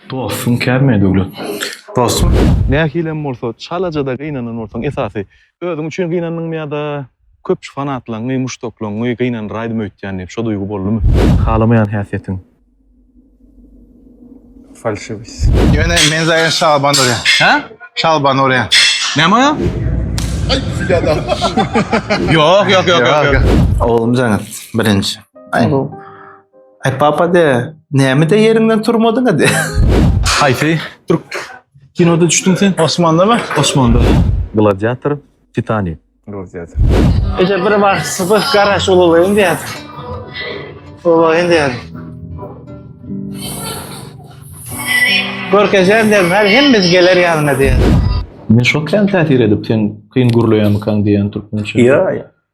Dostuň kärmi Döwlet? Dostum, nähilem bolsa çalaja-da gynanan bolsaň, esasy, özüň üçin gynandyňmy ýa-da köpçi fanatlaňňy, muşdaklaňňy gynandyraýdym öýtýän diýip, şo duýgy boldumy? Halamaýan häsiýetiň. Falşywist. Ýöne men zaýa şalban urýan. Hä? Şalban urýan. Näme urýan? Aý, ýa-da. Ýok, ýok, ýok, ýok, ýok. Oglum Jaňyz, birinji. Aý. Ay papa de, näme de yerinden turmadın hadi. Haýsy türk kinoda düşdüň sen? Osmanda mı? Osmanda. Gladiator, Titanic. Gladiator. Ece bir var sıfır garaş olayım diye. Olayım diye. Görkezeceğim diye. Her hem biz gelir yanına diye. Men şok sen täsir edip sen kyn gürleýänmikan diýen türkmençe. Ýa, ýa.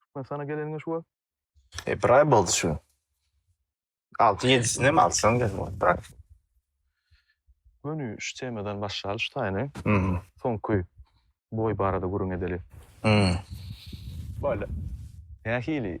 Türkmenistana geleniňe şu wagt? E, bir aý boldy şu. Altı yedisini hem alsan gel bırak. Gönü şu temadan başlayalı şu tayını. Hmm. Soňky boy barada gürün edeli. Hmm. Böyle. Nähili?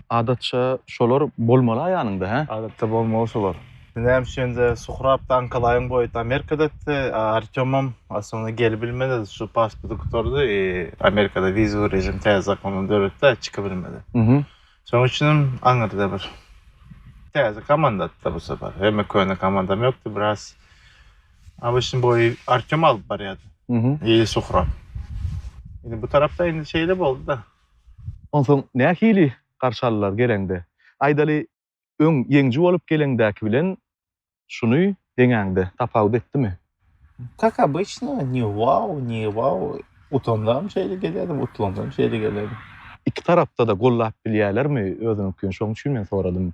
Adatça şolar bolmala ýanyňda hä? Adatça bolmaly şolar. Näme üçinde Suhrab Daňkalaýyň boýuty Amerikadaty, a Artýomam aslynda gelibilmedi, şu pasporty gutardy, e, Amerikada wizowy režim täze zakondan döretdi-ä, çykybilmedi. Mhm. Şonuň üçinem aňyrda bir täze komandatyda bu sefer. Hemme köne komandam ýokdy, biraz ABŞ-yň boýy Artýom alyp barýardy. Mhm. Ýeli Suhrab. Indi bu tarapda indi şeýle boldy-da. Onsoň nähili garşy aldylar geleňde? Aýdaly, öň ýeňiji bolup geleňdäki bilen şuny deňäňde tapawut etdimi? Kak obyçno, ni wao, ni wao. Utandam şeýle gelýärdim, utlandam şeýle gelýärdim. Iki tarapda-da gollap bilýärlermi özüniňkini? Şoň üçin men soradym.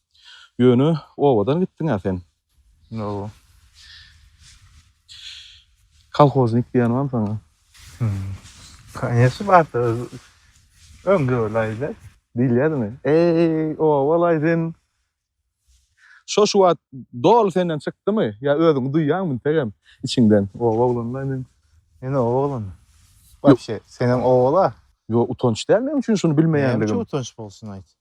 Ýöne obadan gitdiň-ä sen. Hawa. Kolhoznik diýen bamy saňa? Konýeçny barsa öz öňde bolaýda. Diýilýädimi? Eý, oba-laý sen! Şo-şu wagt doly senden çykdymy? Ýa özüňi duýýaňmy integem içiňden? Oba oglany-laý men. Men oba oglany? Wapşe, senem oba-la. Ýok, utanç däl meň üçin şuny bilmeýänligim. Näme üçin utanç bolsun aýt?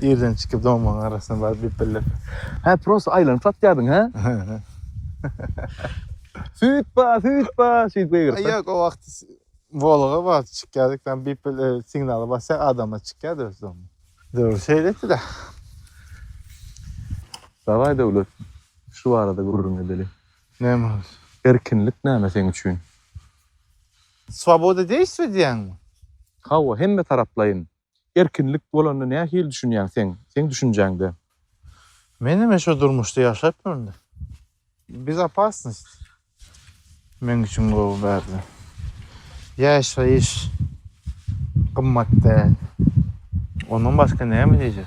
Irden çykyp doňmaň arasyna baryp diyip bildirdi. Hä prosta aýlanyp satýardyň hä? Süýt ba, süýt ba şeýdip gygyrsa. Ýok o wagt Volga bar çykýardyk ben bip bil signaly basýar adama çykýardy öz doňmy. Döwür şeýle etdida. Dawaý Döwlet şu barada gürrüň edeli. Näme boldy? Erkinlik näme seň üçin? Swoboda deýsizmi diýýäňmi? Hawa hemme taraplaýyn. Erkinlik bolanda nähili düşünýäň seň, seň düşünjäňde? Men hem şo durmuşda ýaşapdyryn. Bezopasnost meň üçin gowy bärde. Ýaşaýyş gymmat däl. Ondan başga näme diýjek?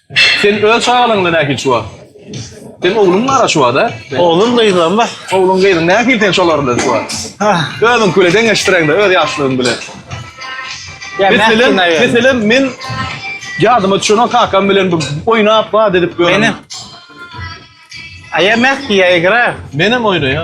Sen öz çagalaryňda nähili çuwa? Sen ogluň bar çuwada? Oglum gyzym bar. Ogluň gyzyň nähili sen şolar bilen çuwa? Özüň bilen deňeşdireňde öz ýaşlaryň bilen. Meselem, meselem men ýadyma düşen kakam bilen bir oýnap, bad edip görüň. Aýa mäh diýä egra. Menem oýnaýa.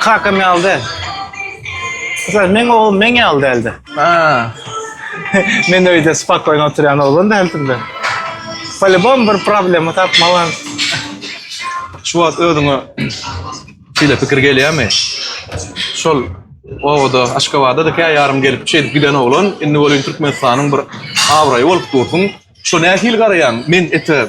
Kakam ýaly däl. Sen meň oglum meň ýaly däldi. Ha. Men öýde spakoýno oturýan oglan däldim-de. Polibom bir problema tapmalan. Şu wagt özüňe şeýle pikir gelýärmi? Şol obada, Aşgabada-da kä ýarym gelip şeýdip giden oglan, indi welin Türkmenistanyň bir abraýy bolup dursuň. Şo nähili garaýaň? Men ete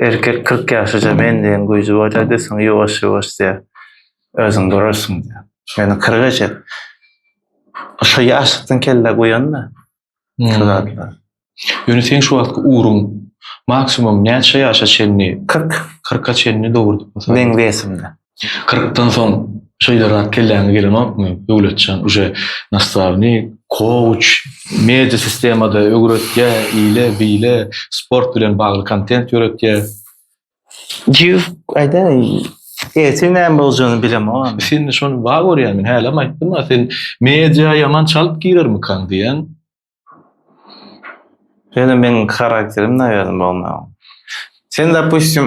Erkek kyrk ýaşaja men diýen güýji barýardy, soň ýuwaş-ýuwaş diýýär, özüň durarsyň diýýär. Meniň kyrka çet. Şo ýaşlykdan kelle guýan-da şu zatlar. Ýöne seň şu wagtky ugruň maksimum näçe ýaşa çenli? Kyrk. Kyrka çenli dogrudyr. Meň wesimde. Kyrkdan soň şeýle rat kelläňe gelenokmy, Döwletjan, uje nastavnik, kouç, media sistemada öwretýä, ile, bile, sport bilen bagly kontent ýöretýä. Ýüz, aýdaý, ertir näme boljagyny bilemogam. Sen indi şony ba görýän, men hälem aýtdym-a, sen media ýaman çalyp girermikaň diýen. Ýöne meniň karakterim naýaly bolmaga. Sen dopustim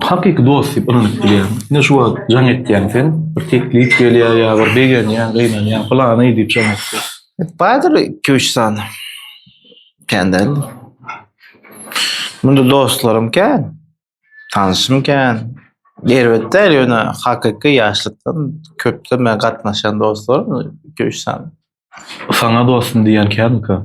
Hakyky dost diýip ynanyp bilýän. Ine şu wagt jaň etýäň sen, bir teklip gelýär ýa bir begenýäň, gynanýaň, pylany diýip jaň etýäň. Bardyr iki-üç sany. Kän däl. Munda dostlarym kän. Tanyşym kän. Erbet däl, ýöne hakyky ýaşlykdan köpden bäri gatnaşýan dostlarym iki-üç sany. Saňa dostum diýýän känmika?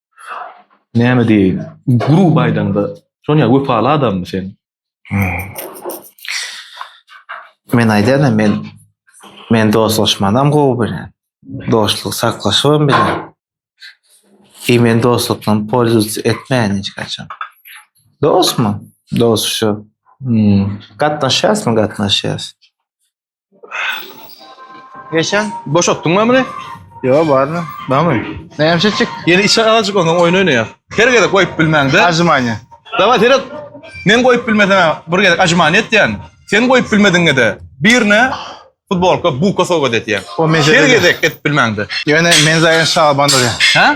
Näme diýeýin? Grup aýdaňda, şoň ýaly wepaly adammy sen? Men aýdýan, men men dostlaşmanam gowy bilen. Dostluk saklaşybam bilen. I men dostlukdan polzulca etmeýän hiç haçan. Dostmy? Dost şu. Gatnaşýasmy? Gatnaşýas. Geçen boşatdyň mı bunu? Yo barmy? Barmy? Näme çekjek? Yeni işe azıcık ondan oyun oynaýar. Her gezek koyup bilmäň de. Ajmanya. Dawa seret. Men koyup bilmesem bir gezek ajmany etýän. Sen koyup bilmediňe de birine futbolka buka sowgat etýän. O mezele. Her gezek et bilmäň de. Ýöne men zaýan şaban bolýar. Ha?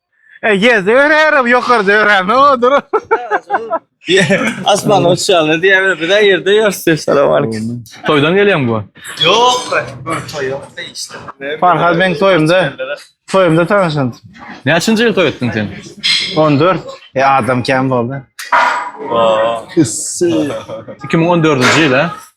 E, ýerde örärim, ýokarda örärim, odur. Asman uçýarlar diýýärler, biz ýerde ýörüs diýip salam aleyküm. Toýdan gelýäň bu. Ýok, bir toý ýok da işte. Farhad meň toýumda, toýumda tanşan. Näçinji ýyl toý etdiň sen? 14. E, adam kän boldy. 2014-nji ýyl, hä?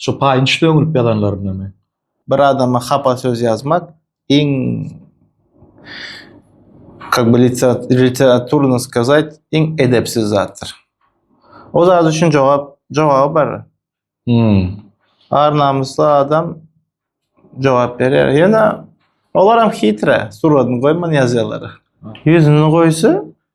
Şu paýynç döňülip ýazanlarynamy? Bir adama hapa söz ýazmak iň kak by literaturno skazat iň edepsiz zatdyr. O zat üçin jogap jogaby bar. Hum. Ar namysly adam jogap berýär. Ýöne olaram hitre, suratyny goýman ýazýarlar. Ýüzüni goýsa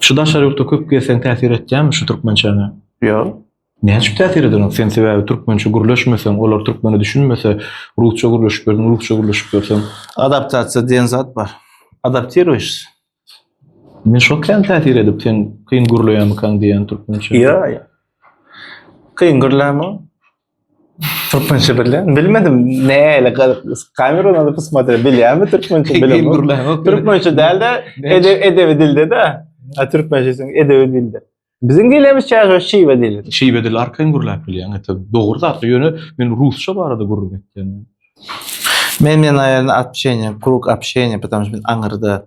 Şu daşary ýurtda köp gezseň täsir etýärmi şu türkmençäňe? Ýok. Näme üçin täsir eder oň? Sen sebäbi türkmençe gürleşmeseň, olar türkmene düşünmese, rusça gürleşip ýörseň, rusça gürleşip ýörseň. Adaptasiýa diýen zat bar. Adaptiruýşsyň. Men şo kän täsir edip, sen kyn gürleýärmikaň diýýän türkmençe. Ýok, ýok. Kyn gürlämiň. Türkmençe bilýän. Bilmedim. Näle galyp kamerany alyp ysmadyr bilýän mi türkmençe bilýän. Türkmençe dälde edebi dilde de. A türkmençe sen edebi dilde. Biziň dilimiz çaşa şiwe dili. Şiwe dili arkaýyn gürläp bilýän. Ete dogry zat. Ýöne men rusça barada gürrüň etdim. Men men aýalyny atşeýne, krug apşeýne, petamşmin aňyrda.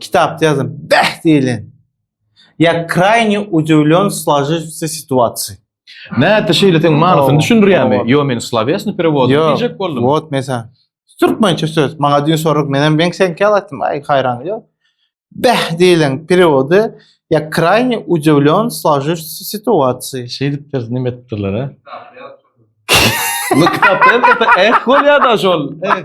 Kitapda ýazan bäh diýlen. Ýa krayny udewlyon slajyjysa situasiýa. Nätdi şeýle sen manysyny düşündirýärmi? Ýo men slowesni perewod diýjek boldum. Ýok, wot mesa. Türkmençe söz. Maňa düýn sorag men hem ben sen kel aýtdym. Aý haýran ýok. Bäh diýlen perewody ýa krayny udewlyon slajyjysa situasiýa. Şeýdip biz näme etdiler ha? Kitapda ýazan. Kitapda ýazan. Eh bolýar da şol. Eh.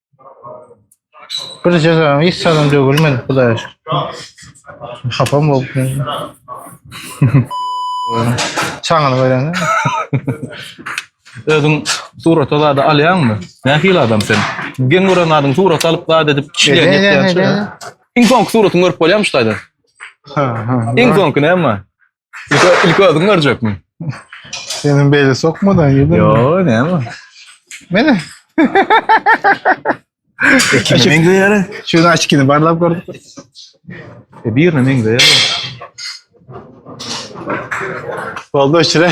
Bir cezam hiç adam dögülmedi Hudaýa şükür. Hapam bolup. Çaňyny görende. Özüň surata zady alýaňmy? Nähili adam sen? Geň gören zadyň surat alyp zat edip kişiler Ne, ne, ne, ne, ne? Iň soňky suratyňy görüp bolýarmy şu taýdan? Ha, ha. Iň soňky näme? İlk, ilk özün görecek mi? Senin beyle sokmadan yedin mi? Yo ne ama. Mene. Ekine meňzeýär. Şunu açkini barlap gördük. E birine meňzeýär. Oldu içire.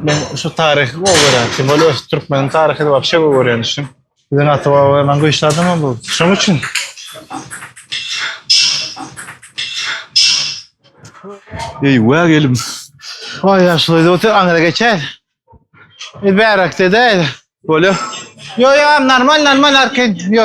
Men şu taryhy gowy görýän. Kim bolýar şu türkmeniň taryhyny wapşe gowy görýän üçin. Biziň ata-babalarymyz güýçli adamlar bu. Şoň üçin. Eý, wä gelim. Oý, ýaşuly otur, aňyra geçer. Biz bärakde-de. Bolýar. Ýo, ýo, normal, normal arkin. Ýo.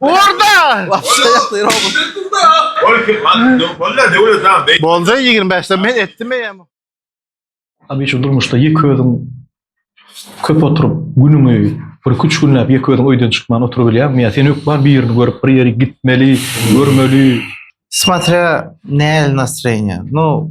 Orada! Bolda 25'de men etdim eýem. Tabii şu durmuşda ýeke özüň köp oturyp günüňi bir iki üç günläp ýeke özüň öýden çykman oturybilýäňmi ýa sen hökman birini görüp bir ýeri gitmeli görmeli. Smatrýa nähili nastroýeniýa. Nu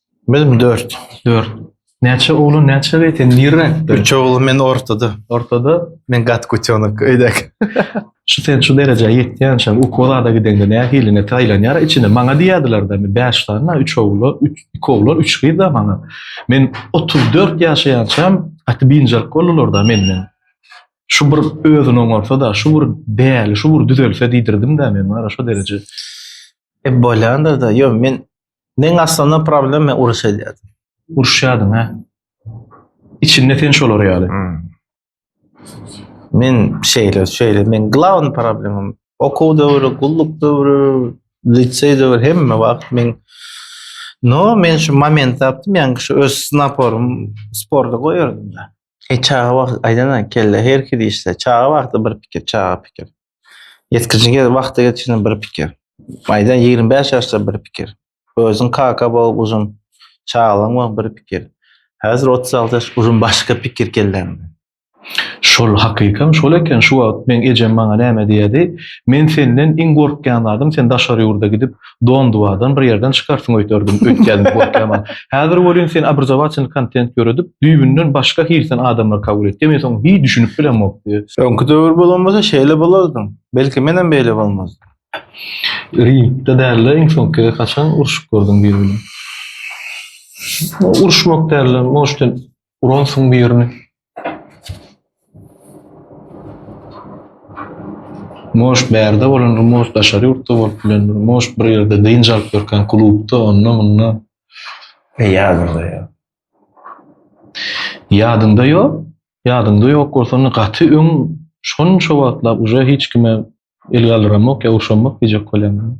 Bilim dört. Dört. Näçe oglan, näçe gyz sen nirräkde? Üç oglan men ortada. Ortada? Men gat kutyonok öýdäk. Şu sen şu derejä ýetýänçäň ukolada gideňde nähilini taýlanýar içini. Maňa diýýärdiler-de, men bäş sany, üç oglan, üç, iki oglan, üç gyz-da maňa. Men otuz dört ýaşaýançam gaty biynjalyk boldular-da menden. Şu bir özüni oňarsa-da, şu bir däli, şu bir düzelse diýdirdim-de men, wara, şo dereje. E, bolýandyr-da. Ýok, men Men aslynda problem men uruş edýärdim. Uruşýardyň ha. Içinde sen şolar ýaly. Hmm. Men şeýle, şeýle, men glawny problemim. Okuw döwri, gulluk döwri, liseý döwri hemme wagt men No, men şu moment tapdym, ýa-ni şu öz naporym sporda goýardym da. E çaga wagt aýdana kelle her kili işde. Çaga wagty bir pikir, çaga pikir. Ýetgijige wagty ýetişene bir pikir. Maýdan ýigrimi bäş ýaşda bir pikir. Özüň kaka bol guzym, çagalygyň bol bir pikir. Häzir otuz alty ýaş guzym başga pikir kelläňde. Şol hakykam şol eken şu wagt meň ejem maňa näme diýerdi, men senden iň gorkýan zadym sen daşary ýurda gidip Donduwadan bir ýerden çykarsyň öýderdim, öýtýärdim gorkýaman. Häzir welin sen obrazowatelny kontent ýöredip, düýbünden başga hil sen adamlary kabul etýä, men soň hiý düşünip bilemokdy. Öňki döwür bolan bolsa şeýle bolardyň. Belki menem beýle bolmazdym. Ringde dälde iň soňky gezek haçan urşup gördüň biri bilen? Uruşmak dälde, может sen Uransyň birini. Moş bärde bolandyr, moş daşary ýurtda bolup bilendir, moş bir ýerde dynç alyp ýörkäň klubda, onda munda. E ýadymda ýok. Ýadyňda ýok? Ýadyňda ýok bolsa onda gaty öň şonça wagtlap uje hiç kime el galdyramok ýa urşamok diýjek bolýaňmy?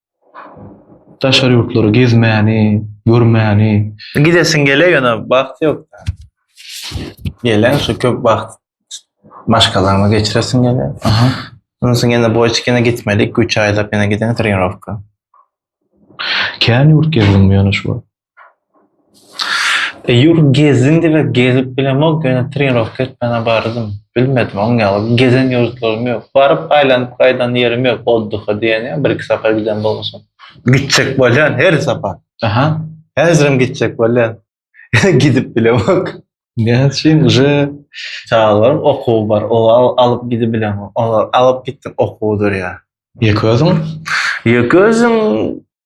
Daşary ýurtlary gezmäni, görmäni. Gidesiň gele ýöne wagt ýok. Gelen şu köp wagt maşgalaňa geçiresiň gele. Aha. Ondan soň ýene boýçik ýene gitmeli iki üç aýlap ýene gideň trenirowka. Kän ýurt gezdiňmi ýöne şu wagt? Ýur gezdim diýmek gezip bilemok ýöne trenirowka etmäne bardym. Bilmedim oň ýaly gezen ýurtlarym ýok. Baryp aýlanyp gaýdan ýerim ýok oddyha diýen ýa birki sapar giden bolmuşam. Gitjek bolýan her sapar. Aha häzirem gitjek bolýan. Ýöne gidip bilemok. Näme üçin uje çagalaryň okuwy bar olar alyp gidip bilemok. Olar alyp gitdim okuw durýa. Ýeke özüň? Ýeke özüm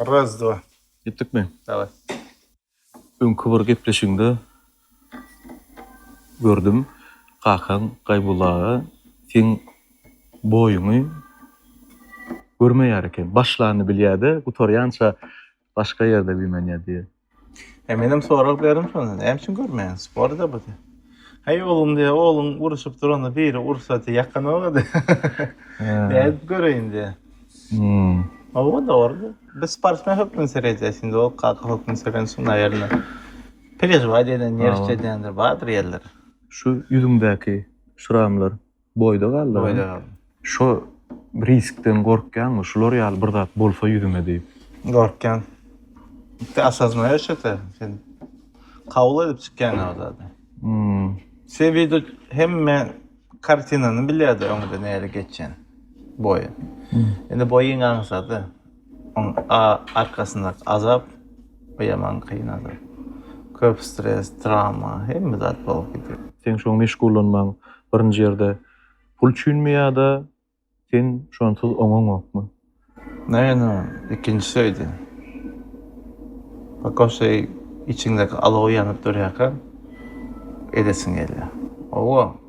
Raz, dva. Gitdikmi? Daway. Öňki bir gepleşigiňde gördüm, kakaň Gaýbulla aga seň boýuňy görmeýär eken. Başlanyny bilýär-de, gutarýança Başga ýerde güýmenýär diýýär. He menem sorag berim şonda näme üçin görmeýäň sporda bu diýýär. Heý oglum diýýär ogluň uruşyp duranda biri ursa diýýär ýakanoga diýýär. Nädip göreýin diýýär. Hawa dogry diýýär. Biz sportsmen hökmünde seredýäs indi ol kaka hökmünde serensoň naýerine perežiwat edýän nerwçi edýändir bardyr ýerleri. Şu ýüzüňdäki şramlar Boýda galdyň. Boýda galdym. Şo riskden gorkýaňmy? Şular ýaly bir zat bolsa ýüzüme diýip. Gorkýan. Tä asazmaýa şeýte. Sen kabul edip çykýaň o zady. Hmmm. Sen wida hemme kartinany bilýärdi öňde näle geçýän. Boýy. Indi boýyň aňsady. Oň a arkasyndaky azap bu ýaman kyn azap. Köp stres, trawma, hemme zat bolup gidýär. Seň şoň meşgullanmaň birinji ýerde pul üçinmi ýada sen şonsuz oňaňokmy? Naýynam ikinjisi öýde. Paka şeý içiňdäki alow ýanyp durýarka edesiň gelýär. Owo.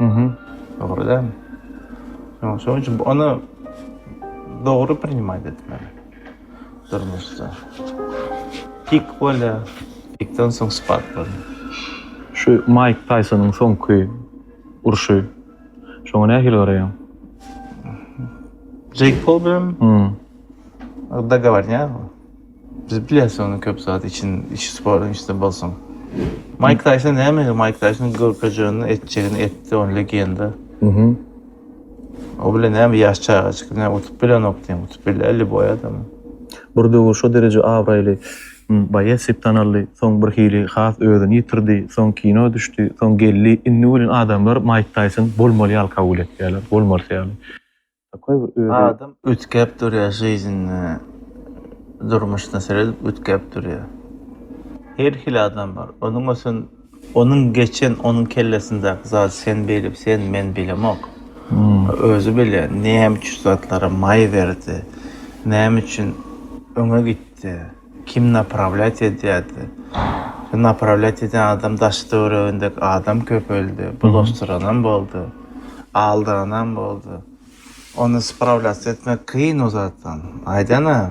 Mhm. Dogry däl. Ýok, şonuň üçin ony dogry priнимait etmeli. Durmuşda. Pik bolýar, pikden soň spad bolýar. Şu Maýk Taýsonyň soňky urşy. Şoňa nähili garaýaň? Jeýk Pol bilenmi? Dogowarnýarmy? Biz bilýäs ony köp zat için içi spor içinde bolsun. Maýk Taýson nämeger Maýk Taýson görkezjegini etjegini etdi ony legenda. Mhm. O bilen näme ýaş çagajyk näme utup bilenok diýen utup bilýär liboý adam. Bir döwür şo dereje abraýly boýes dip tanaldy soň bir hili has özüni ýitirdi soň kino düşdi soň geldi indi welin adamlar Maýk Taýson bolmaly ýaly kabul etýärler bolmalysy ýaly. Takoý bir özi. Adam üýtgäp durýar žyznda, durmuşda seredip üýtgäp durýar. Her hili adam bar. Onuň ösen, onuň geçen, onuň kellesindäki zady sen bilip, sen, men bilemok. Özi bilýär, näme üçin zatlara maý berdi, näme üçin öňe gitdi. Kim naprawlýat edýärdi? Şu naprawlýat edýän adam daş töweregindäki adam köpeldi, bulaşdyranam boldy, aldyranam boldy. Ony sprawlýatsiýa etmek kyn o zatdan. Aýdan-a,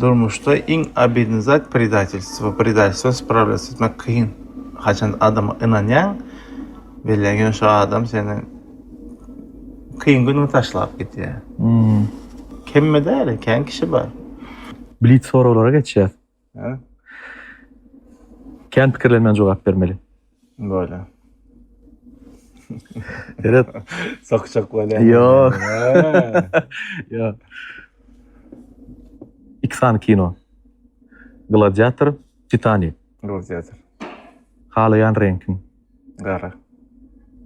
durmuşda iň obidnyý zat predatelstwo. Predatelstwony sprawlýatsiýa etmek kyn. Haçan adama ynanýaň, bilýän ýöne şo adam seni. Kyn günüňi taşlap gitýär. Hmm. Kemme däl, kän kişi bar. Blitz soraglara geçýäs. Hä? Kän pikirlenmän jogap bermeli. Bolýar. Seret. Sokjak bolýar. Ýok. Ýok. Iki sany kino. Gladiator, Titanik. Ruziýadyr. Halaýan reňkiň. Gara.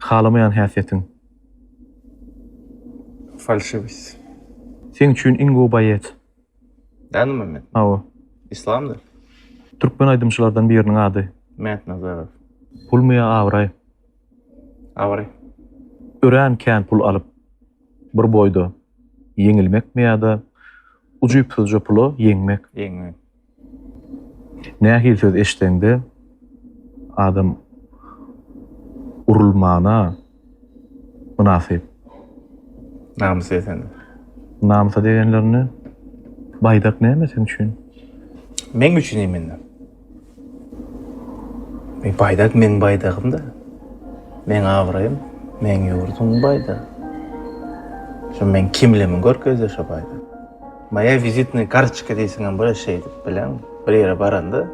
Halamaýan häsiýetiň. Falşywist. Seň üçin iň gowy baýet. Dänemämmet. Hawa. Islamdyr. Türkmen aýdymçylardan biriniň ady. Mätnazarow. Pulmy ýa abraý? Abraý. Örän kän pul alyp, bir boýda ýeňilmekmi ýa-da ujypsyzja pula ýeňmek? Ýeňmek. Nähili söz eşitseňde adam urulmana mynasyp. Namys desene. Namysa degenlerine baýdak näme sen üçin? Meň üçin imende. E baýdak meň baýdagym-da. Meň abraýym, meň ýurduň baýdagy. Şu meň kimlimi görkezýär şu baýdak. Maýa wizitnyý kartoçka diýseňem bolar şeýdip bileň. Bir ýere baranda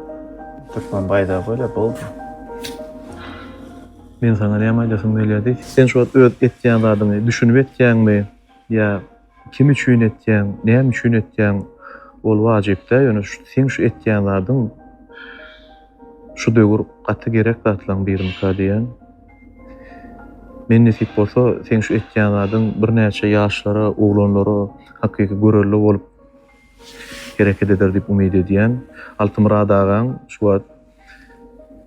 türkmen baýdagy bolýar, boldy. Men saňa näme aýdasym gelýär diý. Sen şu wagt öz etýän zadyňy düşünip etýäňmi ýa kim üçin etýäň, näme üçin etýäň ol wajyp däl, ýöne seň şu etýän zadyň şu döwür gaty gerek zatlaň birinikä diýýän. Men nesip bolsa seň şu etýän zadyň birnäçe ýaşlara, oglanlara hakyky görelde bolup hereket eder diýip umyt edýän. Altymyrat agaň şu wagt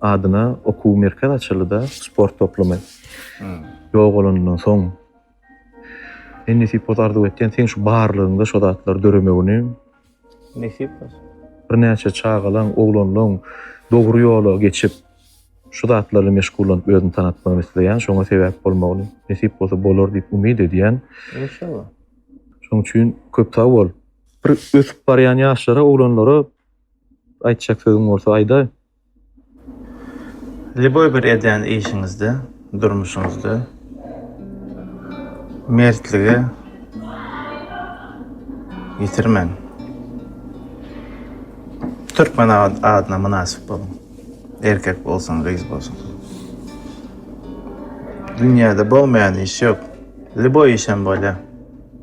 adyna okuw merkez açyldyda, sport toplumy ýogalanyndan soň. Men nesip bolsa arzuw etýän seň şu barlygyňda şo zatlar döremegini. Nesip bolsun. Birnäçe çagalaň, oglanlaň dogry ýola geçip, şu zatlar bilen meşgullanyp özüni tanatmagyny isleýän, şoňa sebäp bolmagyny, nesip bolsa bolar diýip umyt edýän. Enşalla. Şoň üçin köp sag bol. Bir ösüp barýan ýaşlara, oglanlara aýtjak sözüň bolsa aýdaý. Lýuboý bir edýän işiňizde, durmuşyňyzda mertligi ýitirmäň. Türkmen adyna mynasyp boluň. Erkek bolsun, gyz bolsun. Dünýäde bolmaýan iş ýok. Lýuboý işem bolýar.